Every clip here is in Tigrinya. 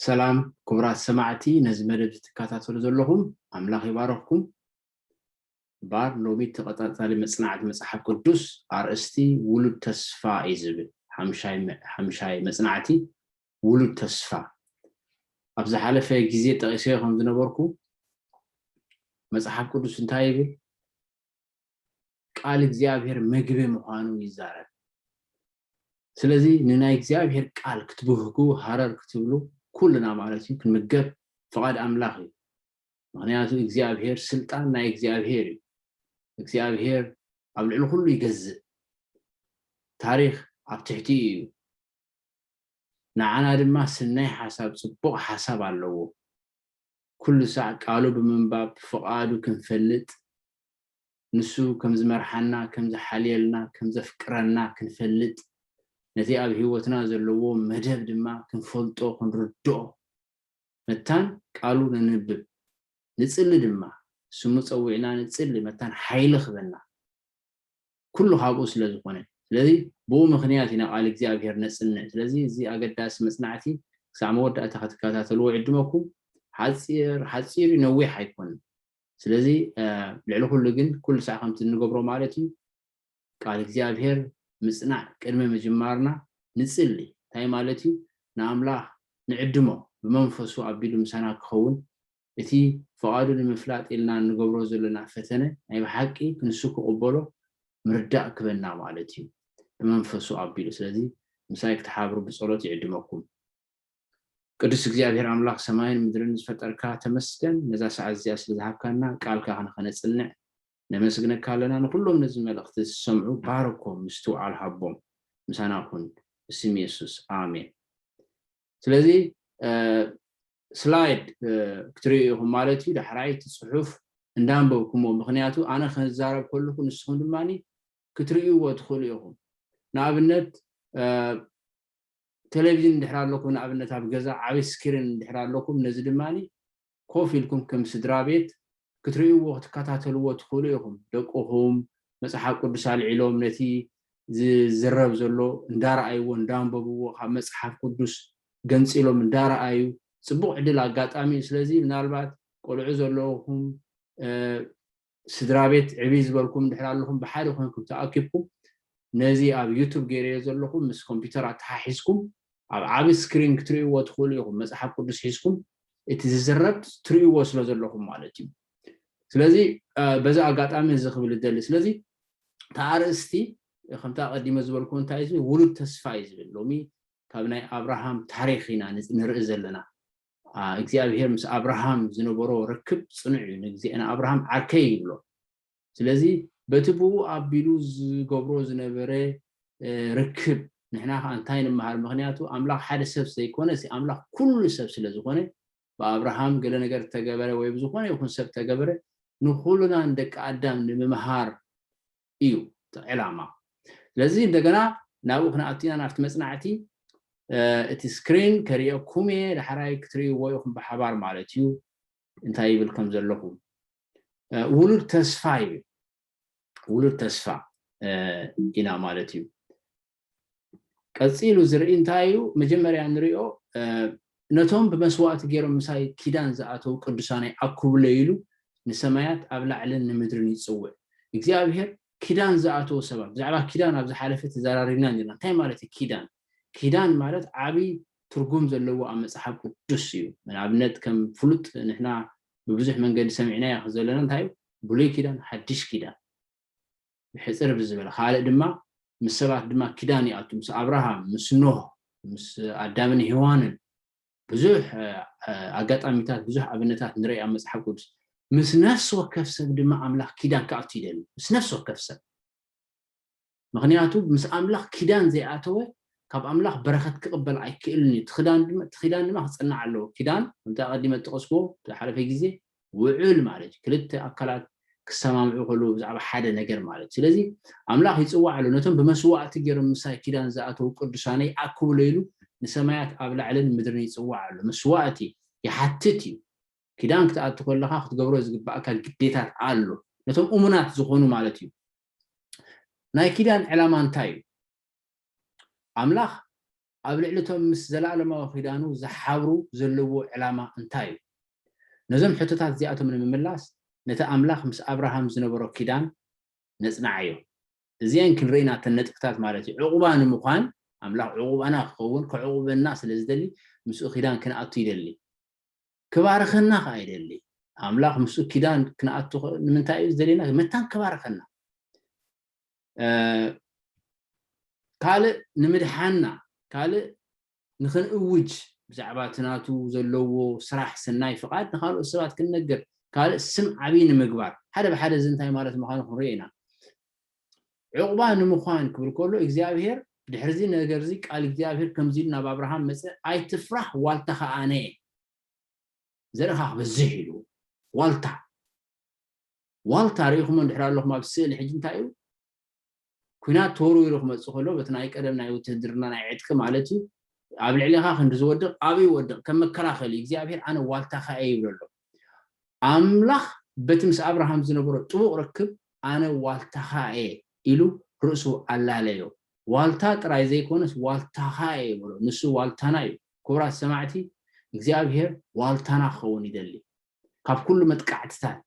ሰላም ክቡራት ሰማዕቲ ነዚ መደብ ትከታተሉ ዘለኹም ኣምላኽ ይባረኽኩም ባር ሎሚ ተቐጣጣሊ መፅናዕቲ መፅሓፍ ቅዱስ ኣርእስቲ ውሉድ ተስፋ እዩ ዝብል ሓምሻይ መፅናዕቲ ውሉድ ተስፋ ኣብ ዝሓለፈ ግዜ ጠቂሰዮ ከም ዝነበርኩ መፅሓፍ ቅዱስ እንታይ ይብል ቃል እግዚኣብሔር ምግቢ ምዃኑ ይዛረብ። ስለዚ ንናይ እግዚኣብሔር ቃል ክትብህጉ ሃረር ክትብሉ ኩልና ማለት እዩ ክንምገብ ፍቓድ ኣምላኽ እዩ። ምክንያቱ እግዚኣብሔር ስልጣን ናይ እግዚኣብሔር እዩ። እግዚኣብሔር ኣብ ልዕሊ ኩሉ ይገዝእ። ታሪኽ ኣብ ትሕቲኡ እዩ። ንዓና ድማ ስናይ ሓሳብ ጽቡቕ ሓሳብ ኣለዎ። ኩሉ ሳዕ ቃሉ ብምንባብ ፍቓዱ ክንፈልጥ ንሱ ከም ዝመርሓና፣ ከም ዝሓልየልና፣ ከም ዘፍቅረና ክንፈልጥ፣ ነቲ ኣብ ህይወትና ዘለዎ መደብ ድማ ክንፈልጦ፣ ክንርድኦ መታን ቃሉ ነንብብ፣ ንጽሊ ድማ፣ ስሙ ጸዊዕና ንጽሊ መታን ሓይሊ ክህበና፣ ኩሉ ካብኡ ስለ ዝኾነ። ስለዚ ብኡ ምኽንያት ኢና ቃል እግዚኣብሄር ነጽንዕ። ስለዚ እዚ ኣገዳሲ መጽናዕቲ ክሳዕ መወዳእታ ክትከታተልዎ እዕድመኩም። ሓጺር ሓጺር እዩ ነዊሕ ኣይኮነን። ስለዚ ልዕሊ ኩሉ ግን ኩሉ ሳዕ ከምቲ እንገብሮ ማለት እዩ ቃል እግዚኣብሄር ምጽናዕ ቅድሚ ምጅማርና ንጽሊ እንታይ ማለት እዩ ንኣምላኽ ንዕድሞ ብመንፈሱ ኣቢሉ ምሳና ክኸውን እቲ ፍቓዱ ንምፍላጥ ኢልና እንገብሮ ዘለና ፈተነ ናይ ብሓቂ ክንሱ ክቕበሎ ምርዳእ ክበና ማለት እዩ ብመንፈሱ ኣቢሉ ስለዚ ምሳይ ክትሓብሩ ብጸሎት ይዕድመኩም ቅዱስ እግዚኣብሔር ኣምላኽ ሰማይን ምድርን ዝፈጠርካ ተመስገን ነዛ ሰዓት እዚኣ ስለ ዝሃብካና ቃልካ ክንኸነጽንዕ ነመስግነካ ኣለና ንኹሎም ነዚ መልእኽቲ ዝሰምዑ ባርኮም ምስትውዓል ሃቦም ምሳና ኩን ብስም የሱስ ኣሜን ስለዚ ስላይድ ክትርእዩ ኢኹም ማለት እዩ ዳሕራይ እቲ ጽሑፍ እንዳንበብኩሞ ምክንያቱ ኣነ ከዛረብ ከለኩ ንስኹም ድማ ክትርእይዎ ትኽእሉ ኢኹም ንኣብነት ተለቪዥን እንድሕር ኣለኩም ንኣብነት ኣብ ገዛ ዓቢ ስኪሪን እንድሕር ኣለኩም ነዚ ድማ ኮፍ ኢልኩም ከም ስድራቤት ክትርእይዎ ክትከታተልዎ ትኽእሉ ኢኹም ደቅኹም መጽሓፍ ቅዱስ ኣልዒሎም ነቲ ዝዝረብ ዘሎ እንዳረኣይዎ እንዳንበብዎ ካብ መጽሓፍ ቅዱስ ገንጺሎም እንዳረኣዩ ጽቡቕ ዕድል ኣጋጣሚ እዩ ስለዚ ምናልባት ቆልዑ ዘለኹም ስድራቤት ዕብይ ዝበልኩም እንድሕር ኣለኹም ብሓደ ኮንኩም ተኣኪብኩም ነዚ ኣብ ዩቱብ ገይረዮ ዘለኹ ምስ ኮምፒተር ኣተሓሒዝኩም ኣብ ዓቢ ስክሪን ክትርእይዎ ትኽእሉ ኢኹም መጽሓፍ ቅዱስ ሒዝኩም እቲ ዝዝረብ ትርእይዎ ስለ ዘለኹም ማለት እዩ ስለዚ በዚ ኣጋጣሚ እዚ ክብል እደሊ ስለዚ ተኣርእስቲ ከምታ ቀዲመ ዝበልኩ እንታይ ዝብል ውሉድ ተስፋ እዩ ዝብል ሎሚ ካብ ናይ ኣብርሃም ታሪክ ኢና ንርኢ ዘለና እግዚኣብሄር ምስ ኣብርሃም ዝነበሮ ርክብ ፅኑዕ እዩ። ንእግዜ- ንኣብርሃም ዓርከይ ይብሎ። ስለዚ በቲ ብኡ ኣቢሉ ዝገብሮ ዝነበረ እ፣ ርክብ ንሕና ኸኣ እንታይ ንመሃር? ምኽንያቱ ኣምላኽ ሓደ ሰብ ዘይኮነስ ኣምላኽ ኩሉ ሰብ ስለ ዝኾነ ብኣብርሃም ገለ ነገር እተገበረ ወይ ብዝኾነ ይኹን ሰብ እተገበረ ንኹልና ንደቂ ኣዳም ንምምሃር እዩ እቲ ዕላማ። ስለዚ እንደገና ናብኡ ክንኣቱ ኢና ናብቲ መጽናዕቲ። እቲ ስክሪን ከርእየኩም እየ ዳሕራይ ክትርእይዎ ኢኹም ብሓባር ማለት እዩ እንታይ ይብል ከም ዘለኹ ውሉድ ተስፋ ይብል ውሉድ ተስፋ ኢና ማለት እዩ ቀጺሉ ዝርኢ እንታይ እዩ? መጀመርያ እንሪኦ ነቶም ብመስዋእቲ ገይሮም ምሳይ ኪዳን ዝኣተው ቅዱሳነይ ኣኩብለይ ኢሉ ንሰማያት ኣብ ላዕልን ንምድርን ይጽውዕ። እግዚኣብሄር ኪዳን ዝኣተው ሰባት ብዛዕባ ኪዳን ኣብ ዝሓለፈ ተዘራሪብና ኔርና። እንታይ ማለት እዩ ኪዳን? ኪዳን ማለት ዓቢ ትርጉም ዘለዎ ኣብ መጽሓፍ ቅዱስ እዩ። ንኣብነት ከም ፍሉጥ ንሕና ብብዙሕ መንገዲ ሰሚዕናዮ ዘለና እንታይ እዩ? ብሉይ ኪዳን፣ ሓድሽ ኪዳን። ብሕጽር ብዝበለ ካልእ ድማ ምስ ሰባት ድማ ኪዳን ይኣቱ ምስ ኣብርሃም ምስ ኖህ ምስ ኣዳምን ሄዋንን ብዙሕ ኣጋጣሚታት ብዙሕ ኣብነታት ንርኢ ኣብ መጽሓፍ ቅዱስ ምስ ነፍሲ ወከፍ ሰብ ድማ ኣምላኽ ኪዳን ክኣቱ ይደሊ ምስ ነፍሲ ወከፍ ሰብ ምክንያቱ ምስ ኣምላኽ ኪዳን ዘይኣተወ ካብ ኣምላኽ በረኸት ክቕበል ኣይክእልን እዩ እቲ ኪዳን ድማ ክፅናዕ ኣለዎ ኪዳን ከምቲ ኣቐዲመ ጠቐስኩዎ ዝሓለፈ ግዜ ውዑል ማለት እዩ ክልተ ኣካላት ክሰማምዑ ከለዉ ብዛዕባ ሓደ ነገር ማለት እዩ ስለዚ ኣምላኽ ይጽዋዕ ኣሎ ነቶም ብመስዋእቲ ገይሮም ምሳይ ኪዳን ዝኣተዉ ቅዱሳነይ ኣክብሎ ኢሉ ንሰማያት ኣብ ላዕልን ምድርን ይጽዋዕ ኣሎ መስዋእቲ ይሓትት እዩ ኪዳን ክትኣቱ ከለኻ ክትገብሮ ዝግባኣካ ግዴታት ኣሎ ነቶም እሙናት ዝኾኑ ማለት እዩ ናይ ኪዳን ዕላማ እንታይ እዩ ኣምላኽ ኣብ ልዕሊ እቶም ምስ ዘለኣለማዊ ኺዳኑ ዚሓብሩ ዘለዎ ዕላማ እንታይ እዩ? ነዞም ሕቶታት እዚኣቶም ንምምላስ፣ ነቲ ኣምላኽ ምስ ኣብርሃም ዝነበሮ ኪዳን ነጽንዓዮ። እዚኤን ክንርኢ ናተን ነጥብታት ማለት እዩ። ዕቝባ ንምዃን፣ ኣምላኽ ዕቝባና ኪኸውን፣ ኬዕቍበና ስለ ዚደሊ፣ ምስኡ ኪዳን ክንኣቱ ይደሊ። ኪባርኸና ኸኣ ይደሊ። ኣምላኽ ምስኡ ኪዳን ክንኣቱ ንምንታይ እዩ ዚደልየና? መታን ኪባርኸና። ካልእ ንምድሓና ካልእ ንክንእውጅ ብዛዕባ እቲ ናቱ ዘለዎ ስራሕ ሰናይ ፍቓድ ንካልኦት ሰባት ክንነግር ካልእ ስም ዓቢ ንምግባር ሓደ ብሓደ እዚ እንታይ ማለት ምዃኑ ክንሪኦ ኢና ዕቑባ ንምዃን ክብል ከሎ እግዚኣብሄር ድሕርዚ ነገር እዚ ቃል እግዚኣብሄር ከምዚ ኢሉ ናብ ኣብርሃም መፀ ኣይትፍራሕ ዋልታ ከዓ ኣነ ዘርእኻ ክበዝሕ ኢሉ ዋልታ ዋልታ ርኢኹሞ እንድሕር ኣለኹም ኣብ ስእሊ ሕጂ እንታይ እዩ ኩናት ተወርዊሩ ክመፅእ ከሎ በቲ ናይ ቀደም ናይ ውትህድርና ናይ ዕጥቂ ማለት እዩ ኣብ ልዕሊኻ ክንዲ ዝወድቕ ኣበይ ይወድቕ ከም መከላኸሊ እግዚኣብሄር ኣነ ዋልታኻ እየ ይብሎ ኣሎ ኣምላኽ በቲ ምስ ኣብርሃም ዝነበሮ ጥቡቕ ርክብ ኣነ ዋልታኻ እየ ኢሉ ርእሱ ኣላለዮ ዋልታ ጥራይ ዘይኮነስ ዋልታኻ እየ ይብሎ ንሱ ዋልታና እዩ ክቡራት ሰማዕቲ እግዚኣብሄር ዋልታና ክኸውን ይደሊ ካብ ኩሉ መጥቃዕትታት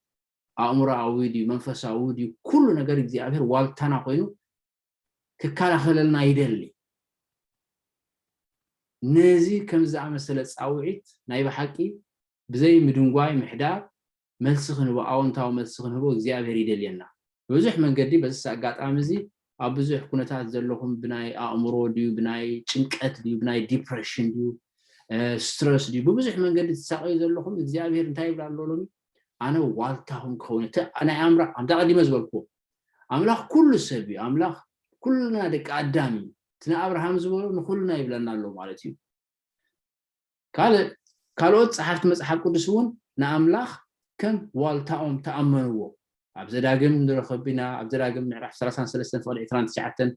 ኣእምሮኣዊ ድዩ መንፈሳዊ ድዩ ኩሉ ነገር እግዚኣብሔር ዋልታና ኮይኑ ክከላኸለልና ይደሊ ነዚ ከም ዝኣመሰለ ፃውዒት ናይ ብሓቂ ብዘይ ምድንጓይ ምሕዳር መልሲ ክንህቦ ኣዎንታዊ መልሲ ክንህቦ እግዚኣብሄር ይደልየና ብብዙሕ መንገዲ በዚስ ኣጋጣሚ እዚ ኣብ ብዙሕ ኩነታት ዘለኹም ብናይ ኣእምሮ ድዩ ብናይ ጭንቀት ድዩ ብናይ ዲፕረሽን ድዩ ስትረስ ድዩ ብብዙሕ መንገዲ ትሳቀዩ ዘለኹም እግዚኣብሄር እንታይ ይብል ኣሎ ሎሚ ኣነ ዋልታኹም ክኸውን እቲ ናይ ኣምራ ኣምታ ቀዲመ ዝበልኩዎ ኣምላኽ ኩሉ ሰብ እዩ ኣምላኽ ኩልና ደቂ ኣዳም እዩ እቲ ንኣብርሃም ዝበሎ ንኩልና ይብለና ኣሎ ማለት እዩ ካልእ ካልኦት ጸሓፍቲ መጽሓፍ ቅዱስ እውን ንኣምላኽ ከም ዋልታኦም ተኣመንዎ። ኣብ ዘዳግም ንረኽብ ኢና፣ ኣብ ዘዳግም ምዕራፍ ሰላሳን ሰለስተን ፍቕዲ ዕስራን ትሽዓተን፣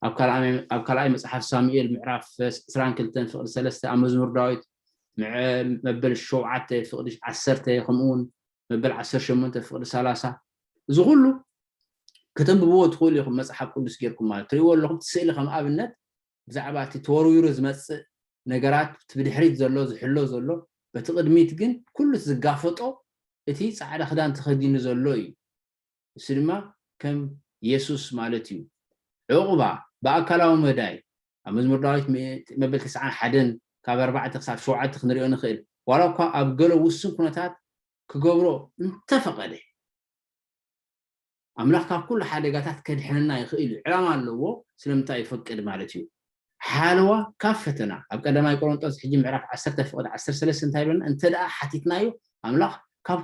ኣብ ካልኣይ ኣብ ካልኣይ መጽሓፍ ሳሙኤል ምዕራፍ ዕስራን ክልተን ፍቕዲ ሰለስተ፣ ኣብ መዝሙር ዳዊት ምዕ መበል ሸውዓተ ፍቕዲ ዓሰርተ ከምኡ እውን መበል ዓሰርተ ሸሞንተ ፍቕዲ ሰላሳ እዚ ኹሉ ከተንብብዎ ትኽእሉ ኢኹም መጽሓፍ ቅዱስ ጌርኩም ማለት ትርእይዎ ኣለኹም እቲ ስእሊ ከም ኣብነት ብዛዕባ እቲ ተወርዊሩ ዝመጽእ ነገራት እቲ ብድሕሪት ዘሎ ዝሕሎ ዘሎ በቲ ቅድሚት ግን ኩሉ እቲ ዝጋፈጦ እቲ ጻዕዳ ክዳን ተኸዲኑ ዘሎ እዩ ንሱ ድማ ከም የሱስ ማለት እዩ ዑቕባ ብኣካላዊ መዳይ ኣብ መዝሙር ዳዊት ምእት መበል ተስዓን ሓደን ካብ ኣርባዕተ ክሳብ ሸውዓተ ክንሪኦ ንኽእል ዋላ እኳ ኣብ ገለ ውሱን ኩነታት ክገብሮ እንተፈቐደ ኣምላኽ ካብ ኩሉ ሓደጋታት ከድሕነና ይኽእል እዩ፣ ዕላማ ኣለዎ፣ ስለምንታይ ይፈቅድ ማለት እዩ፣ ሓለዋ ካብ ፈተና፣ ኣብ ቀዳማይ ቆሮንጦስ ሕጂ ምዕራፍ ዓሰርተ ፍቕድ ዓሰርተ ሰለስተ እንታይ ይብለና እንተድኣ ሓቲትናዮ ኣምላኽ ካብ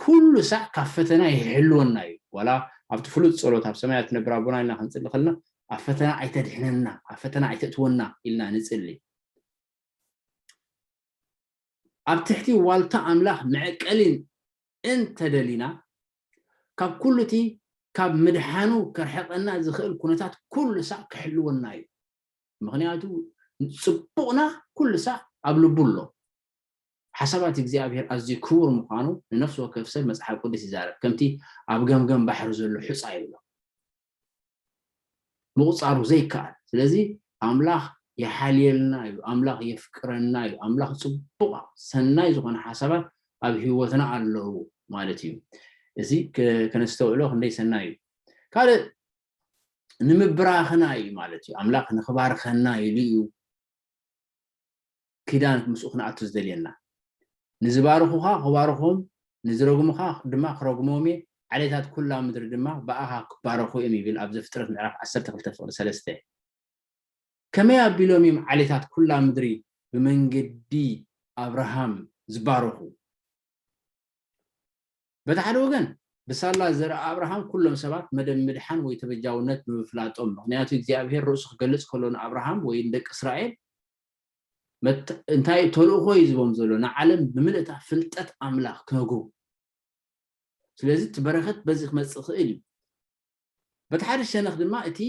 ኩሉ ሳዕ ካብ ፈተና ይሕልወና እዩ፣ ዋላ ኣብቲ ፍሉጥ ጸሎት ኣብ ሰማያት ትነብር ኣቦና ኢልና ክንጽሊ ከለና ኣብ ፈተና ኣይተድሕነና፣ ኣብ ፈተና ኣይተእትወና ኢልና ንጽሊ። ኣብ ትሕቲ ዋልታ ኣምላኽ መዕቀሊን እንተ ደሊና፣ ካብ ኩሉ እቲ ካብ ምድሓኑ ከርሕቀና ዝኽእል ኩነታት ኩሉ ሳዕ ክሕልወና እዩ። ምኽንያቱ ጽቡቕና ኩሉ ሳዕ ኣብ ልቡ ኣሎ። ሓሳባት እግዚኣብሄር ኣዝዩ ክቡር ምዃኑ ንነፍሲ ወከፍ ሰብ መጽሓፍ ቅዱስ ይዛረብ፣ ከምቲ ኣብ ገምገም ባሕሪ ዘሎ ሑጻ ይብሎ። ምቁጻሩ ዘይከኣል ስለዚ ኣምላኽ ይሓልየልና እዩ ኣምላኽ የፍቅረና እዩ ኣምላኽ ጽቡቅ ሰናይ ዝኮነ ሓሳባት ኣብ ሂወትና ኣለዉ ማለት እዩ እዚ ከነስተውዕሎ ክንደይ ሰናይ እዩ ካልእ ንምብራኽና እዩ ማለት እዩ ኣምላኽ ንክባርኸና ኢሉ እዩ ኪዳን ምስኡ ክንኣቱ ዝደልየና። ንዝባርኹኻ ኽባርኾም ንዝረግሙኻ ድማ ክረግሞም እየ ዓሌታት ኩላ ምድሪ ድማ ብኣኻ ክባረኹ እዮም ይብል ኣብ ዘፍጥረት ምዕራፍ ዓሰርተ ክልተ ፍቕዲ ሰለስተ። ከመይ ኣቢሎም እዮም ዓሌታት ኩላ ምድሪ ብመንገዲ ኣብርሃም ዝባረኹ? በቲ ሓደ ወገን ብሳላ ዘርኢ ኣብርሃም ኩሎም ሰባት መደብ ምድሓን ወይ ተበጃውነት ብምፍላጦም ምኽንያቱ እግዚኣብሄር ርእሱ ክገልጽ ከሎ ንኣብርሃም ወይ ንደቂ እስራኤል እንታይ ተልእኾ እዩ ዝቦም ዘሎ ንዓለም ብምልእታ ፍልጠት ኣምላኽ ክነግሩ ስለዚ እቲ በረኸት በዚ ክመፅእ ክእል እዩ በቲ ሓደ ሸነኽ ድማ እቲ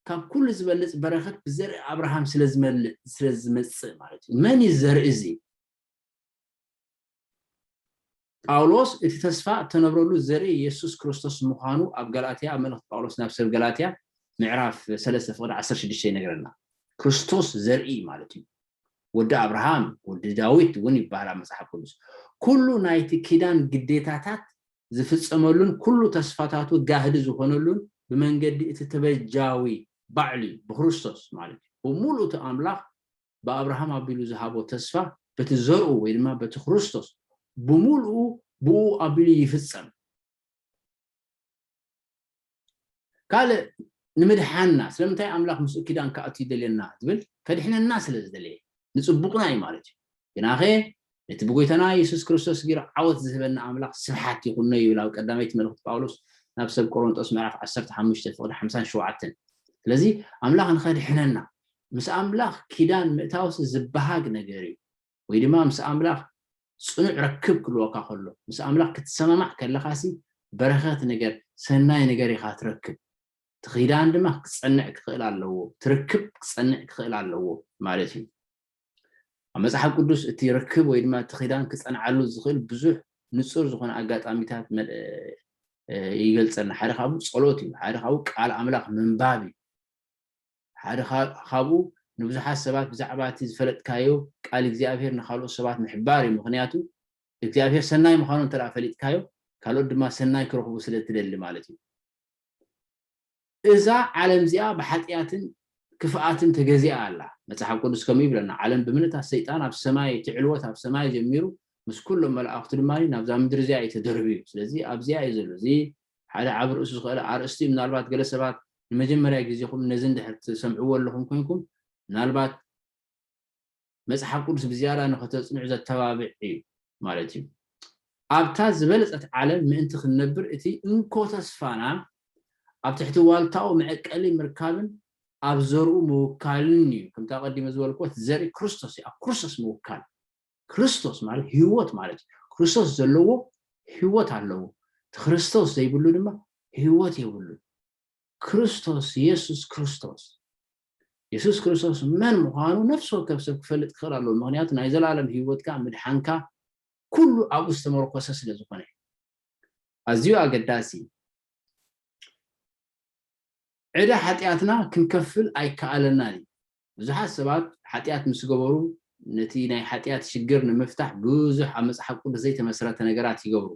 ካብ ኩሉ ዝበልፅ በረኸት ብዘርኢ ኣብርሃም ስለዝመልእ ስለዝመፅእ ማለት እዩ መን እዩ ዘርኢ እዚ ጳውሎስ እቲ ተስፋ እተነብረሉ ዘርኢ የሱስ ክርስቶስ ምዃኑ ኣብ ገላትያ ኣብ መልእኽቲ ጳውሎስ ናብ ሰብ ገላትያ ምዕራፍ ሰለስተ ፍቕዲ ዓሰርተ ሽዱሽተ ይነግረና። ክርስቶስ ዘርኢ ማለት እዩ። ወዲ ኣብርሃም ወዲ ዳዊት እውን ይበሃል ኣብ መጽሓፍ ቅዱስ። ኩሉ ናይቲ ኪዳን ግዴታታት ዝፍጸመሉን ኩሉ ተስፋታቱ ጋህዲ ዝኾነሉን ብመንገዲ እቲ ተበጃዊ ባዕሉ እዩ፣ ብክርስቶስ ማለት እዩ። ብምሉኡ እቲ ኣምላኽ ብኣብርሃም ኣቢሉ ዝሃቦ ተስፋ በቲ ዘርኡ ወይ ድማ በቲ ክርስቶስ ብምልኡ ብኡ ኣቢሉ ይፍጸም። ካልእ ንምድሓንና ስለምንታይ ኣምላኽ ምስኡ ኪዳን ክኣቱ ይደልየና ዝብል ከድሕነና ስለ ዝደለየ ንጽቡቕና እዩ ማለት እዩ። ግናኸ ነቲ ብጎይታና የሱስ ክርስቶስ ጌሩ ዓወት ዝህበና ኣምላኽ ስብሓት ይኹኖ ይብል ኣብ ቀዳመይቲ መልእኽቲ ጳውሎስ ናብ ሰብ ቆሮንጦስ ምዕራፍ ዓሰርተ ሓሙሽተ ፍቕዲ ሓምሳን ሸውዓተን ስለዚ ኣምላኽ ንኸድሕነና ምስ ኣምላኽ ኪዳን ምእታውሲ ዝበሃግ ነገር እዩ ወይ ድማ ምስ ኣምላኽ ጽኑዕ ረክብ ክልወካ ከሎ ምስ ኣምላኽ ክትሰማማዕ ከለኻሲ በረኸት ነገር ሰናይ ነገር ኢኻ ትረክብ ትኺዳን ድማ ክጸንዕ ክኽእል ኣለዎ ትርክብ ክጸንዕ ክኽእል ኣለዎ ማለት እዩ ኣብ መጽሓፍ ቅዱስ እቲ ርክብ ወይ ድማ እቲ ኪዳን ክጸንዓሉ ዝኽእል ብዙሕ ንጹር ዝኾነ ኣጋጣሚታት ይገልጸልና ሓደ ካብኡ ጸሎት እዩ ሓደ ካብኡ ቃል ኣምላኽ ምንባብ እዩ ሓደ ካብኡ ንብዙሓት ሰባት ብዛዕባ እቲ ዝፈለጥካዮ ቃል እግዚኣብሄር ንካልኦት ሰባት ምሕባር እዩ ምክንያቱ እግዚኣብሄር ሰናይ ምዃኑ እንተ ፈሊጥካዮ ካልኦት ድማ ሰናይ ክረኽቡ ስለ እትደሊ ማለት እዩ እዛ ዓለም እዚኣ ብሓጥያትን ክፍኣትን ተገዚኣ ኣላ። መጽሓፍ ቅዱስ ከምኡ ይብለና፣ ዓለም ብምልእታ ሰይጣን ኣብ ሰማይ እቲ ዕልወት ኣብ ሰማይ ጀሚሩ ምስ ኩሎም መላእኽቱ ድማ ናብዛ ምድሪ እዚኣ እዩ ተደርብዩ። ስለዚ ኣብዚኣ እዩ ዘሎ። እዚ ሓደ ዓቢ ርእሱ ዝኸእለ ኣርእስቲ እዩ። ምናልባት ገለ ሰባት ንመጀመርያ ግዜኹም ነዚ እንድሕር ትሰምዕዎ ኣለኹም ኮይንኩም ምናልባት መጽሓፍ ቅዱስ ብዝያዳ ንኸተጽንዑ ዘተባብዕ እዩ ማለት እዩ። ኣብታ ዝበለጸት ዓለም ምእንቲ ክንነብር እቲ እንኮ ተስፋና ኣብ ትሕቲ ዋልታኡ መዕቀሊ ምርካብን ኣብ ዘርኡ ምውካልን እዩ። ከምቲ ኣቐዲመ ዝበልክዎት ዘርኢ ክርስቶስ እዩ። ኣብ ክርስቶስ ምውካል ክርስቶስ ማለት ህይወት ማለት እዩ። ክርስቶስ ዘለዎ ህይወት ኣለዎ። እቲ ክርስቶስ ዘይብሉ ድማ ህይወት የብሉ። ክርስቶስ የሱስ ክርስቶስ የሱስ ክርስቶስ መን ምዃኑ ነፍሲ ወከፍ ሰብ ክፈልጥ ክኽእል ኣለዎ፣ ምኽንያቱ ናይ ዘልኣለም ህይወትካ፣ ምድሓንካ፣ ኩሉ ኣብኡ ዝተመርኮሰ ስለ ዝኾነ። ኣዝዩ ኣገዳሲ ዕዳ ሓጢኣትና ክንከፍል ኣይከኣለናን እዩ። ብዙሓት ሰባት ሓጢኣት ምስ ገበሩ ነቲ ናይ ሓጢኣት ሽግር ንምፍታሕ ብዙሕ ኣብ መጽሓፍ ቅዱስ ዘይተመስረተ ነገራት ይገብሩ።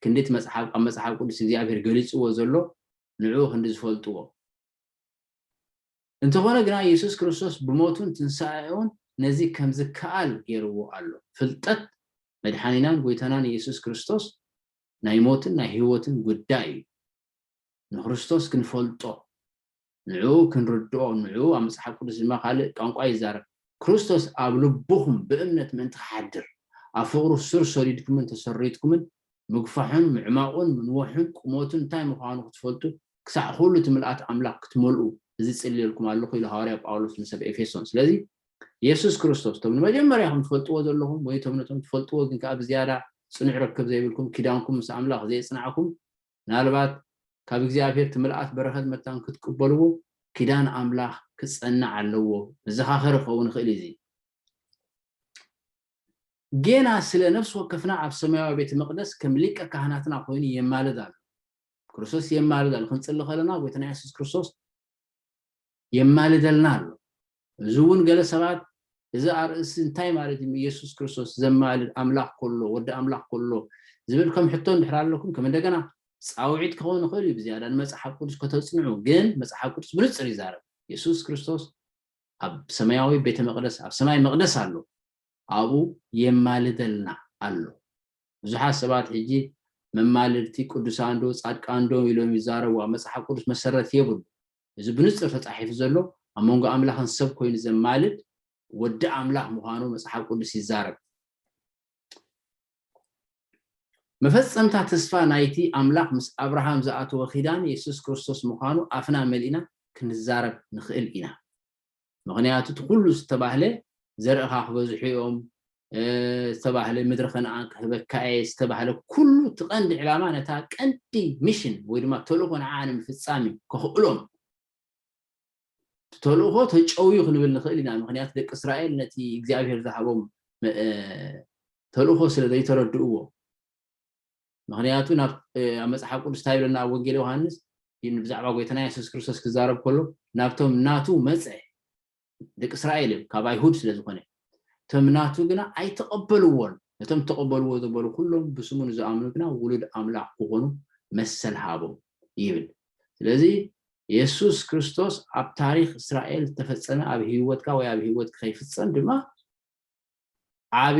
ክንዲ እቲ መጽሓፍ ኣብ መጽሓፍ ቅዱስ እግዚኣብሄር ገሊጽዎ ዘሎ ንዕኡ ክንዲ ዝፈልጥዎ። እንተኾነ ግና የሱስ ክርስቶስ ብሞቱን ትንሳኤኡን ነዚ ከም ዝከኣል ገይርዎ ኣሎ። ፍልጠት መድሓኒናን ጎይታናን የሱስ ክርስቶስ ናይ ሞትን ናይ ህይወትን ጉዳይ እዩ። ንክርስቶስ ክንፈልጦ፣ ንዕኡ ክንርድኦ፣ ንዕኡ ኣብ መጽሓፍ ቅዱስ ድማ ካልእ ቋንቋ ይዛረብ፣ ክርስቶስ ኣብ ልቡኹም ብእምነት ምእንቲ ክሓድር፣ ኣብ ፍቕሩ ሱር ሰዲድኩምን ተሰሪትኩምን ምግፋሑን ምዕማቑን ምንዋሑን ቁመቱን እንታይ ምዃኑ ክትፈልጡ ክሳዕ ዅሉ እቲ ምልኣት ኣምላኽ ክትመልኡ እዚ እጽልየልኩም ኣሎኹ ኢሉ ሃዋርያ ጳውሎስ ንሰብ ኤፌሶን። ስለዚ የሱስ ክርስቶስ እቶም ንመጀመርያኹም ትፈልጥዎ ዘሎኹም ወይ እቶም ነቶም ትፈልጥዎ ግን ከኣ ብዝያዳ ጽኑዕ ርክብ ዘይብልኩም ኪዳንኩም ምስ ኣምላኽ ዘየጽናዕኩም ምናልባት ካብ እግዚኣብሄር እቲ ምልኣት በረኸት መታን ክትቅበልዎ ኪዳን ኣምላኽ ክጸንዕ ኣለዎ መዘኻኸሪ ክኸውን ይኽእል እዩ እዚ ጌና ስለ ነፍሲ ወከፍና ኣብ ሰማያዊ ቤተ መቕደስ ከም ሊቀ ካህናትና ኮይኑ የማልድ ኣሎ። ክርስቶስ የማልድ ኣሎ። ክንጽሊ ከለና ጎይታና የሱስ ክርስቶስ የማልደልና ኣሎ። እዚ እውን ገለ ሰባት እዚ ኣርእስቲ እንታይ ማለት እዩ ኢየሱስ ክርስቶስ ዘማልድ ኣምላኽ ከሎ ወዲ ኣምላኽ ከሎ ዝብል ከም ሕቶ እንድሕር ኣለኩም ከም እንደገና ፃውዒት ክኸውን ይኽእል እዩ ብዝያዳ ንመፅሓፍ ቅዱስ ከተፅንዑ ግን መፅሓፍ ቅዱስ ብንፅር ይዛረብ ኢየሱስ ክርስቶስ ኣብ ሰማያዊ ቤተ መቅደስ ኣብ ሰማይ መቅደስ ኣሎ ኣብኡ የማልደልና ኣሎ ብዙሓት ሰባት ሕጂ መማልድቲ ቅዱሳን ዶ ጻድቃን ዶ ኢሎም ይዛረቡ ኣብ መጽሓፍ ቅዱስ መሰረት የብሉ እዚ ብንጽር ተጻሒፉ ዘሎ ኣብ መንጎ ኣምላኽን ሰብ ኮይኑ ዘማልድ ወዲ ኣምላኽ ምዃኑ መጽሓፍ ቅዱስ ይዛረብ መፈጸምታ ተስፋ ናይቲ ኣምላኽ ምስ ኣብርሃም ዝኣተዎ ኺዳን የሱስ ክርስቶስ ምዃኑ ኣፍና መሊእና ክንዛረብ ንኽእል ኢና። ምኽንያቱ እቲ ዅሉ ዝተባህለ ዘርእኻ ክበዝሑ እዮም ዝተባህለ ምድሪ ከነኣን ክህበካ እየ ዝተባህለ ኩሉ እቲ ቀንዲ ዕላማ ነታ ቀንዲ ሚሽን ወይ ድማ ተልእኾ ንዓ ንምፍጻም እዩ ከኽእሎም እቲ ተልእኾ ተጨውዩ ክንብል ንኽእል ኢና፣ ምኽንያቱ ደቂ እስራኤል ነቲ እግዚኣብሄር ዝሃቦም ተልእኾ ስለ ዘይተረድእዎ። ምኽንያቱ ናብ ኣብ መጽሓፍ ቅዱስ እንታይ ይብለና ኣብ ወንጌል ዮሃንስ ብዛዕባ ጎይታና የሱስ ክርስቶስ ክዛረብ ከሎ ናብቶም ናቱ መጸ ደቂ እስራኤል እዮም ካብ ኣይሁድ ስለ ዝኾነ እቶም ናቱ ግና ኣይተቐበልዎን ነቶም ተቐበልዎ ዘበሉ ኩሎም ብስሙ ንዝኣምኑ ግና ውሉድ ኣምላኽ ክኾኑ መሰል ሃቦም ይብል ስለዚ የሱስ ክርስቶስ ኣብ ታሪኽ እስራኤል ዝተፈጸመ ኣብ ህይወትካ ወይ ኣብ ህይወትኪ ከይፍጸም ድማ ዓቢ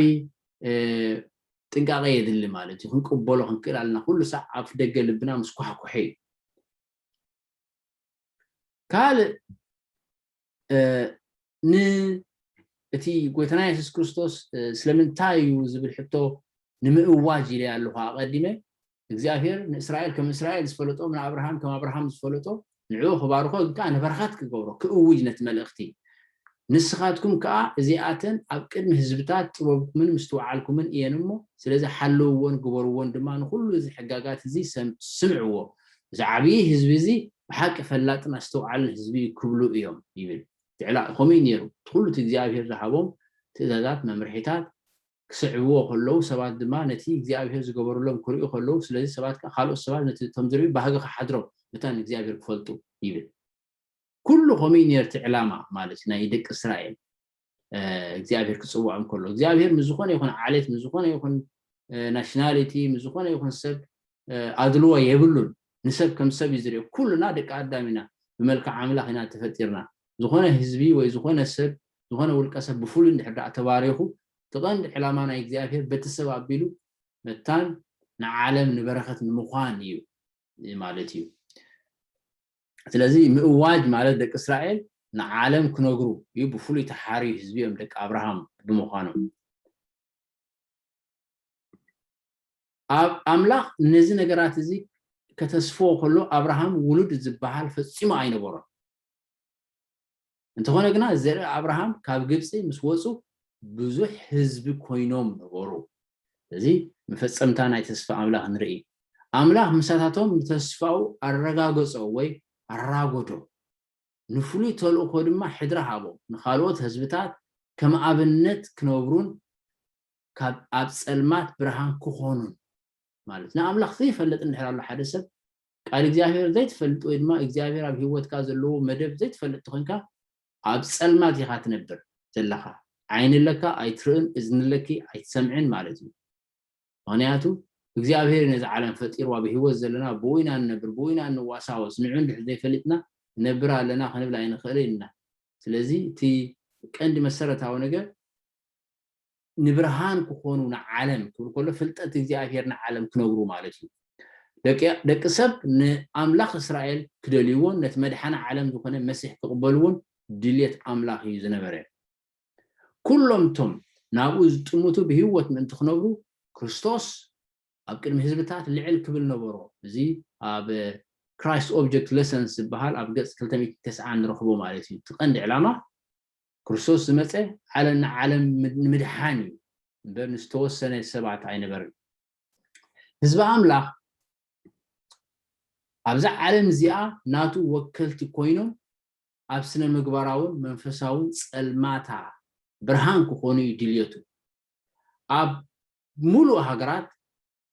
ጥንቃቐ የድሊ ማለት እዩ ክንቅበሎ ክንክእል ኣለና ኩሉ ሳዕ ኣብ ደገ ልብና ምስ ኳሕኩሐ እዩ ካልእ ን እቲ ጎይታና የሱስ ክርስቶስ ስለምንታይ እዩ ዝብል ሕቶ ንምእዋጅ ኢለ ኣለኹ ኣቐዲመ እግዚኣብሄር ንእስራኤል ከም እስራኤል ዝፈለጦ ንኣብርሃም ከም ኣብርሃም ዝፈለጦ ንዕኡ ክባርኾ ግን ከዓ ንበረኸት ክገብሮ ክእውጅ ነቲ መልእኽቲ ንስኻትኩም ከዓ እዚኣተን ኣብ ቅድሚ ህዝብታት ጥበብኩምን ምስትውዓልኩምን እየን እሞ ስለዚ ሓልውዎን ግበርዎን ድማ ንኹሉ እዚ ሕጋጋት እዚ ስምዕዎ እዚ ዓብዪ ህዝቢ እዚ ብሓቂ ፈላጥን ኣስተውዓልን ህዝቢ እዩ ክብሉ እዮም ይብል እቲ ዕላል ከምኡ እዩ ነይሩ። እቲ ዅሉ እቲ እግዚኣብሄር ዝሃቦም ትእዛዛት፣ መምርሒታት፣ ኪስዕብዎ ኸለዉ፣ ሰባት ድማ ነቲ እግዚኣብሄር ዝገበረሎም ኪርእዩ ኸለዉ፣ ስለዚ ሰባት ከኣ ካልኦት ሰባት ነቲ ከም ዚርእዩ ባህጊ ኺሓድሮም መታን ንእግዚኣብሄር ኪፈልጡ ይብል። ኵሉ ከምኡ እዩ ነይሩ፣ እቲ ዕላማ ማለት እዩ ናይ ደቂ እስራኤል እግዚኣብሄር ኪጽውዖም ከሎ። እግዚኣብሄር ምስ ዝዀነ ይኹን ዓሌት፣ ምስ ዝዀነ ይኹን ናሽናሊቲ፣ ምስ ዝዀነ ይኹን ሰብ ኣድልዎ የብሉን ንሰብ ከም ሰብ እዩ ዝሪኦ ኩሉና ደቂ ኣዳም ኢና ብመልክዕ ኣምላኽ ኢና ተፈጢርና ዝኾነ ህዝቢ ወይ ዝኾነ ሰብ ዝኾነ ውልቀ ሰብ ብፍሉይ እንድሕር ደኣ ተባሪኹ እቲ ቀንዲ ዕላማ ናይ እግዚኣብሄር በቲ ሰብ ኣቢሉ መታን ንዓለም ንበረኸት ንምዃን እዩ ማለት እዩ ስለዚ ምእዋጅ ማለት ደቂ እስራኤል ንዓለም ክነግሩ እዩ ብፍሉይ ተሓርዩ ህዝቢ እዮም ደቂ ኣብርሃም ብምዃኖም ኣምላኽ ነዚ ነገራት እዚ ከተስፍዎ ከሎ ኣብርሃም ውሉድ ዝበሃል ፈጺሙ ኣይነበሮን። እንተኾነ ግና ዘርኢ ኣብርሃም ካብ ግብጺ ምስ ወጹ ብዙሕ ህዝቢ ኮይኖም ነበሩ። እዚ መፈጸምታ ናይ ተስፋ ኣምላኽ ንርኢ። ኣምላኽ ምሳታቶም ንተስፋኡ ኣረጋገጾ ወይ ኣራጎዶ፣ ንፍሉይ ተልእኾ ድማ ሕድሪ ሃቦም፣ ንኻልኦት ህዝብታት ከም ኣብነት ክነብሩን ካብ ኣብ ጸልማት ብርሃን ክኾኑን ማለት ንኣምላኽ ዘይፈልጥ እንድሕር ኣሎ ሓደ ሰብ ቃል እግዚኣብሔር ዘይትፈልጥ ወይ ድማ እግዚኣብሔር ኣብ ህይወትካ ዘለዎ መደብ ዘይትፈልጥ ተኾንካ ኣብ ጸልማት ኢኻ ትነብር ዘለኻ ዓይኒ ኣለካ ኣይትርእን እዝኒ ኣለኪ ኣይትሰምዕን ማለት እዩ ምክንያቱ እግዚኣብሔር ነዚ ዓለም ፈጢርዋ ብህይወት ዘለና ብኡ ኢና ንነብር ብኡ ኢና ንዋሳወስ ንዑ እንድሕር ዘይፈሊጥና ነብር ኣለና ክንብል ኣይንኽእልን ኢና ስለዚ እቲ ቀንዲ መሰረታዊ ነገር ንብርሃን ክኾኑ ንዓለም ክብል ከሎ ፍልጠት እግዚኣብሔር ንዓለም ክነብሩ ማለት እዩ። ደቂ ደቂ ሰብ ንኣምላኽ እስራኤል ክደልይዎን ነቲ መድሓኒ ዓለም ዝኾነ መሲሕ ክቕበልዎን ድልየት ኣምላኽ እዩ ዝነበረ። ኩሎም እቶም ናብኡ ዝጥምቱ ብህይወት ምእንቲ ክነብሩ ክርስቶስ ኣብ ቅድሚ ህዝብታት ልዕል ክብል ነበሮ። እዚ ኣብ ክራይስት ኦብጀክት ለሰንስ ዝበሃል ኣብ ገጽ ክልተ ሚእቲ ተስዓን ንረኽቦ ማለት እዩ። እቲ ቀንዲ ዕላማ ክርስቶስ ዝመጸ ዓለም ንዓለም ንምድሓን እዩ እምበር ንዝተወሰነ ሰባት ኣይነበርን። ህዝቢ ኣምላኽ ኣብዛ ዓለም እዚኣ ናቱ ወከልቲ ኮይኖም ኣብ ስነ ምግባራውን መንፈሳውን ጸልማታ ብርሃን ክኾኑ እዩ ድልየቱ። ኣብ ሙሉእ ሃገራት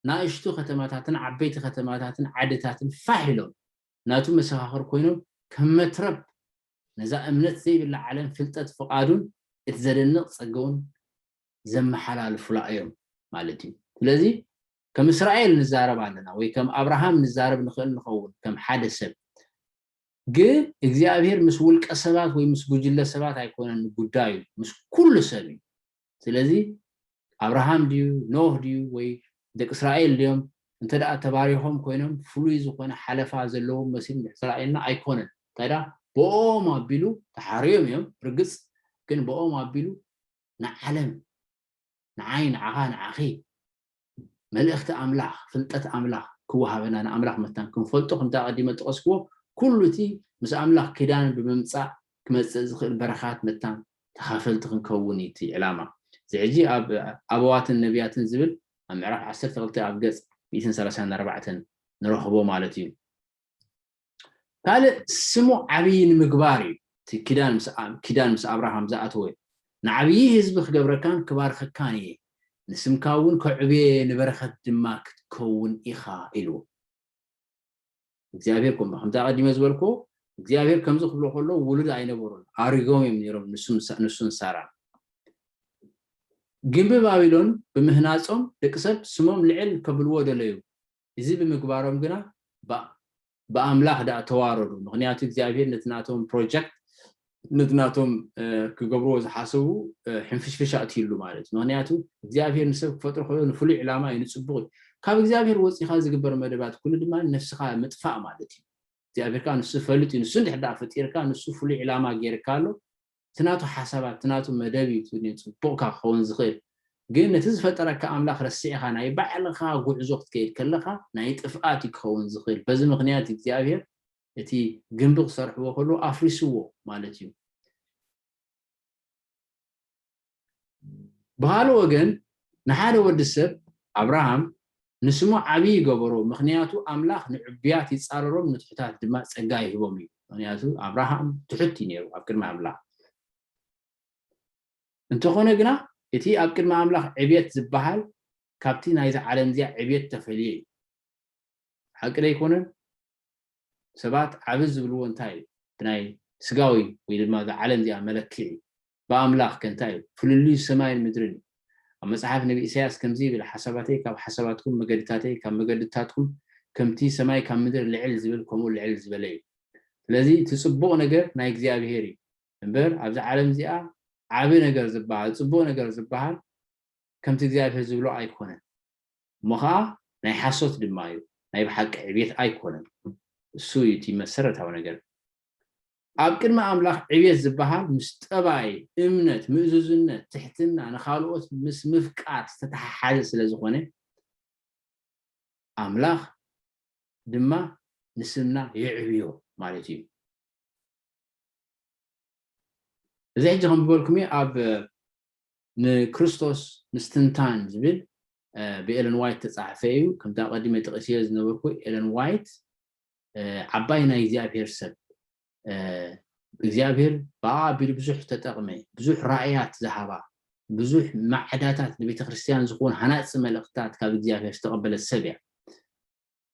ናእሽቱ ከተማታትን ዓበይቲ ከተማታትን ዓድታትን ፋሕ ኢሎም ናቱ መሰኻኽር ኮይኖም ከም መትረብ ነዛ እምነት ዘይብላ ዓለም ፍልጠት ፍቓዱን እቲ ዘደንቕ ጸገኡን ዘመሓላልፉላ እዮም ማለት እዩ። ስለዚ ከም እስራኤል ንዛረብ ኣለና ወይ ከም ኣብርሃም ንዛረብ ንኽእል ንኸውን ከም ሓደ ሰብ ግን እግዚኣብሔር ምስ ውልቀ ሰባት ወይ ምስ ጉጅለ ሰባት ኣይኮነን ጉዳዩ ምስ ኩሉ ሰብ እዩ ስለዚ ኣብርሃም ድዩ ኖህ ድዩ ወይ ደቂ እስራኤል ድዮም እንተ ተባሪኾም ኮይኖም ፍሉይ ዝኾነ ሓለፋ ዘለዎም መሲሉ ንሕስራኤልና ኣይኮነን እንታይ ድኣ ብኦም ኣቢሉ ተሓርዮም እዮም ርግጽ ግን ብኦም ኣቢሉ ንዓለም ንዓይ ንዓኻ ንዓኺ መልእኽቲ ኣምላኽ፣ ፍልጠት ኣምላኽ ክወሃበና፣ ንኣምላኽ መታን ክንፈልጦ፣ ከምቲ ኣቐዲመ ዝጠቐስክዎ፣ ኩሉ እቲ ምስ ኣምላኽ ኪዳን ብምምጻእ ክመጽእ ዝኽእል በረኻት መታን ተኻፈልቲ ክንከውን እዩ እቲ ዕላማ። እዚ ሕጂ ኣብ ኣበዋትን ነብያትን ዝብል ኣብ ምዕራፍ ዓሰርተ ክልተ ኣብ ገጽ ሚእትን ሰላሳን ኣርባዕተን ንረኽቦ ማለት እዩ። ካልእ ስሙ ዓብዪ ንምግባር እዩ፣ እቲ ኪዳን ምስ ኣብርሃም ዝኣተወ፣ ንዓብዪ ህዝቢ ክገብረካን ክባርኸካን እየ፣ ንስምካ እውን ከዕብዮ እየ፣ ንበረኸት ድማ ክትከውን ኢኻ ኢልዎ። እግዚኣብሄር ከምኡ፣ ከምቲ ኣቐዲመ ዝበልክዎ፣ እግዚኣብሄር ከምዚ ክብሎ ከሎ ውሉድ ኣይነበሮን፣ ኣሪጎም እዮም ነይሮም ንሱን ሳራን። ግምቢ ባቢሎን ብምህናጾም ደቂ ሰብ ስሞም ልዕል ከብልዎ ደለዩ፣ እዚ ብምግባሮም ግና ብኣምላኽ ደኣ ተዋረዱ፣ ምኽንያቱ እግዚኣብሄር ነቲ ናቶም ፕሮጀክት ነቲ ናቶም ክገብርዎ ዝሓሰቡ ሕንፍሽፍሽ ኣእትዩሉ ማለት እዩ። ምኽንያቱ እግዚኣብሄር ንሰብ ክፈጥሮ ከሎ ንፍሉይ ዕላማ እዩ፣ ንጽቡቕ እዩ። ካብ እግዚኣብሄር ወጺእካ ዝግበር መደባት ኩሉ ድማ ነፍስኻ ምጥፋእ ማለት እዩ። እግዚኣብሄር ከኣ ንሱ ፈልጥ እዩ፣ ንሱ እንድሕር ደኣ ፈጢርካ ንሱ ፍሉይ ዕላማ ጌርካ ኣሎ፣ እቲ ናቱ ሓሳባት እቲ ናቱ መደብ እዩ እቲ ጽቡቕካ ክኸውን ዝኽእል ግን ነቲ ዝፈጠረካ ኣምላኽ ረሲዕኻ ናይ ባዕልኻ ጉዕዞ ክትከይድ ከለኻ ናይ ጥፍኣት እዩ ክኸውን ዝኽእል በዚ ምኽንያት እዩ እግዚኣብሄር እቲ ግምቢ ክሰርሕዎ ከለዉ ኣፍሪስዎ ማለት እዩ። ብኻልእ ወገን ንሓደ ወዲ ሰብ ኣብርሃም ንስሙ ዓብዪ ይገበሮ ምኽንያቱ ኣምላኽ ንዕቡያት ይጻረሮም ንትሑታት ድማ ጸጋ ይህቦም እዩ ምኽንያቱ ኣብርሃም ትሑት እዩ ነይሩ ኣብ ቅድሚ ኣምላኽ እንተኾነ ግና እቲ ኣብ ቅድሚ ኣምላኽ ዕብየት ዝበሃል ካብቲ ናይዚ ዓለም እዚኣ ዕብየት ተፈልየ እዩ ሓቂ ዶ ኣይኮነን ሰባት ዓብ ዝብልዎ እንታይ እዩ ብናይ ስጋዊ ወይ ድማ እዛ ዓለም እዚኣ መለክዒ ብኣምላኽ ከ እንታይ እዩ? ፍልልዩ ሰማይን ምድርን እዩ። ኣብ መጽሓፍ ነቢ ኢሳይያስ ከምዚ ይብል ሓሳባተይ ካብ ሓሳባትኩም መገድታተይ ካብ መገድታትኩም ከምቲ ሰማይ ካብ ምድር ልዕል ዝብል ከምኡ ልዕል ዝበለ እዩ። ስለዚ እቲ ጽቡቕ ነገር ናይ እግዚኣብሄር እዩ እምበር ኣብዛ ዓለም እዚኣ ዓቢ ነገር ዝበሃል ጽቡቕ ነገር ዝበሃል ከምቲ እግዚኣብሄር ዝብሎ ኣይኮነን እሞ ኸኣ ናይ ሓሶት ድማ እዩ ናይ ብሓቂ ዕብየት ኣይኮነን እሱ እዩ እቲ መሰረታዊ ነገር። ኣብ ቅድሚ ኣምላኽ ዕብየት ዝበሃል ምስ ጠባይ፣ እምነት፣ ምእዙዝነት፣ ትሕትና፣ ንኻልኦት ምስ ምፍቃር ዝተተሓሓዘ ስለ ዝኾነ ኣምላኽ ድማ ንስምና የዕብዮ ማለት እዩ። እዚ ሕጂ ከንብበልኩም እየ ኣብ ንክርስቶስ ምስትንታን ዝብል ብኤለን ዋይት ተፃሕፈ እዩ ከምቲ ኣቐዲመ ጥቒስዮ ዝነበርኩ ኤለን ዋይት ዓባይ ናይ እግዚኣብሔር ሰብ እግዚኣብሔር ብኣ ኣቢሉ ብዙሕ ተጠቕመ ብዙሕ ራእያት ዝሃባ ብዙሕ ማዕዳታት ንቤተ ክርስቲያን ዝኸውን ሃናፂ መልእኽትታት ካብ እግዚኣብሔር ዝተቐበለት ሰብ እያ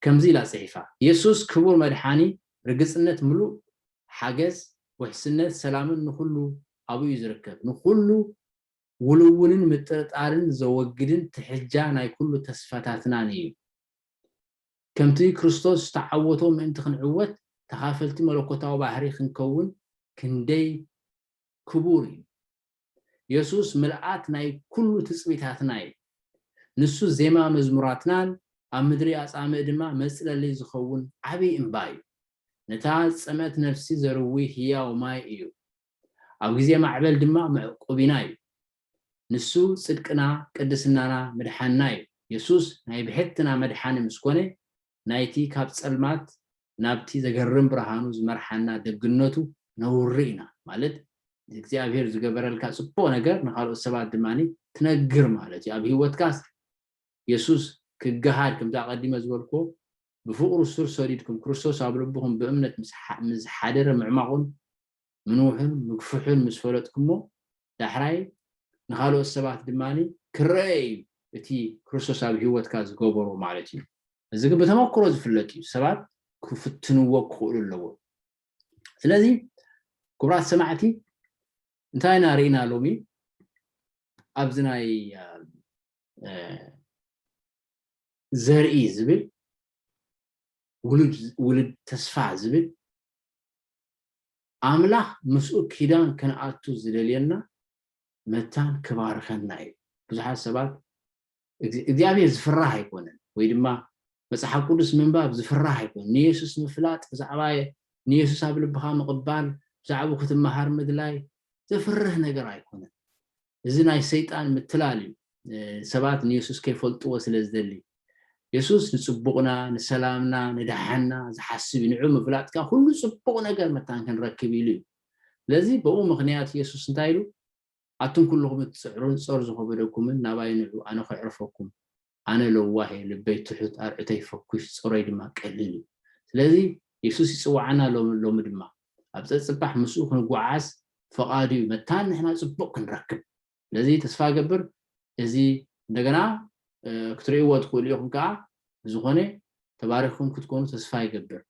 ከምዚ ኢላ ፅሒፋ የሱስ ክቡር መድሓኒ ርግፅነት ምሉእ ሓገዝ ውሕስነት ሰላምን ንኹሉ ኣብኡ እዩ ዝርከብ ንኹሉ ውልውልን ምጥርጣርን ዘወግድን ትሕጃ ናይ ኩሉ ተስፋታትናን እዩ ከምቲ ክርስቶስ ዝተዓወቶ ምእንቲ ክንዕወት ተኻፈልቲ መለኮታዊ ባህሪ ክንከውን ክንደይ ክቡር እዩ! የሱስ ምልኣት ናይ ኩሉ ትጽቢታትና እዩ። ንሱ ዜማ መዝሙራትናን ኣብ ምድሪ ኣጻምእ ድማ መጽለሊ ዝኸውን ዓቢ እምባ እዩ። ነታ ዝጸምኣት ነፍሲ ዘርዊ ህያው ማይ እዩ። ኣብ ግዜ ማዕበል ድማ መዕቆቢና እዩ። ንሱ ጽድቅና ቅድስናና ምድሓንና እዩ። የሱስ ናይ ብሕትና መድሓኒ ምስ ኮነ ናይቲ ካብ ጸልማት ናብቲ ዘገርም ብርሃኑ ዝመርሓና ደግነቱ ነውሪ ኢና ማለት እግዚኣብሄር ዝገበረልካ ጽቡቅ ነገር ንካልኦት ሰባት ድማ ትነግር ማለት እዩ ኣብ ሂወትካስ የሱስ ክገሃድ ከምቲ ኣቀዲመ ዝበልክዎ ብፍቅሩ ሱር ሰዲድኩም ክርስቶስ ኣብ ልብኹም ብእምነት ምስ ሓደረ ምዕማቁን ምንውሑን ምግፍሑን ምስ ፈለጥኩሞ፣ ዳሕራይ ንኻልኦት ሰባት ድማ ክረኣ እዩ እቲ ክርስቶስ ኣብ ህይወትካ ዝገበሮ ማለት እዩ። እዚ ግን ብተመክሮ ዝፍለጥ እዩ፣ ሰባት ክፍትንዎ ክኽእሉ ኣለዎም። ስለዚ ክቡራት ሰማዕቲ እንታይ ኢና ርኢና ሎሚ ኣብዚ ናይ ዘርኢ ዝብል ውሉድ ውልድ ተስፋ ዝብል ኣምላኽ ምስኡ ኪዳን ክንኣቱ ዝደልየና መታን ክባርኸና እዩ። ብዙሓት ሰባት እግዚኣብሔር ዝፍራህ ኣይኮነን ወይ ድማ መጽሓፍ ቅዱስ ምንባብ ዝፍራህ ኣይኮነን። ንየሱስ ምፍላጥ ብዛዕባ ንየሱስ ኣብ ልብኻ ምቕባል ብዛዕባ ክትመሃር ምድላይ ዘፍርህ ነገር ኣይኮነን። እዚ ናይ ሰይጣን ምትላል እዩ ሰባት ንየሱስ ከይፈልጥዎ ስለ ዝደሊ የሱስ ንጽቡቕና ንሰላምና ንደሓንና ዝሓስብ እዩ ንዑ ምፍላጥካ ኩሉ ጽቡቕ ነገር መታን ክንረክብ ኢሉ እዩ ስለዚ ብኡ ምኽንያት የሱስ እንታይ ኢሉ ኣቱም ኩልኹም እትጽዕሩን ጾር ዝኸበደኩምን ናባይ ንዑ ኣነ ከዕርፈኩም ኣነ ለዋህ እየ ልበይ ትሑት ኣርዑተይ ፈኩሽ ጾሮይ ድማ ቀሊል እዩ ስለዚ የሱስ ይጽውዓና ኣሎ ሎሚ ድማ ኣብ ጸጽባሕ ምስኡ ክንጎዓዓዝ ፈቓዱ እዩ መታን ንሕና ጽቡቕ ክንረክብ ስለዚ ተስፋ ገብር እዚ እንደገና ክትርእይዎ ትኽእሉ ኢኹም ከዓ ብዝኾነ ተባሪኽኩም ክትኮኑ ተስፋ ይገብር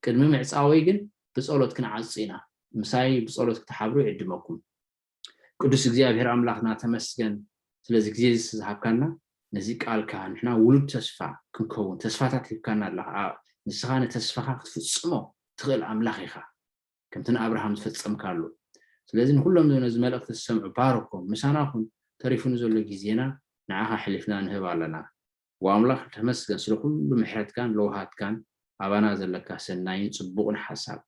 ቅድሚ ምዕፃወይ ግን ብጸሎት ክንዓጹ ኢና ምሳይ ብጸሎት ክትሓብሩ ይዕድመኩም ቅዱስ እግዚኣብሔር ኣምላክና ተመስገን ስለዚ ግዜ እዚ ዝሃብካና ነዚ ቃልካ ንሕና ውሉድ ተስፋ ክንከውን ተስፋታት ሂብካና ኣለካ ንስኻ ንተስፋኻ ክትፍጽሞ ትኽእል ኣምላኽ ኢኻ ከምቲ ንኣብርሃም ዝፈጸምካሉ ስለዚ ንኩሎም ነዚ መልእኽቲ ዝሰምዑ ባርኮም ምሳና ኩን ተሪፉ ንዘሎ ግዜና ንዓኻ ሕሊፍና ንህብ ኣለና ዋው ኣምላኽ ተመስገን ስለ ኩሉ ምሕረትካን ለውሃትካን ኣባና ዘለካ ሰናይን ጽቡቅን ሓሳብ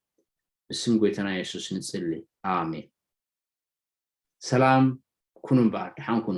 ብስም ጎይታና የሱስ ንጽሊ ኣሜን ሰላም ኩኑ እምበኣር ደሓን ኩኑ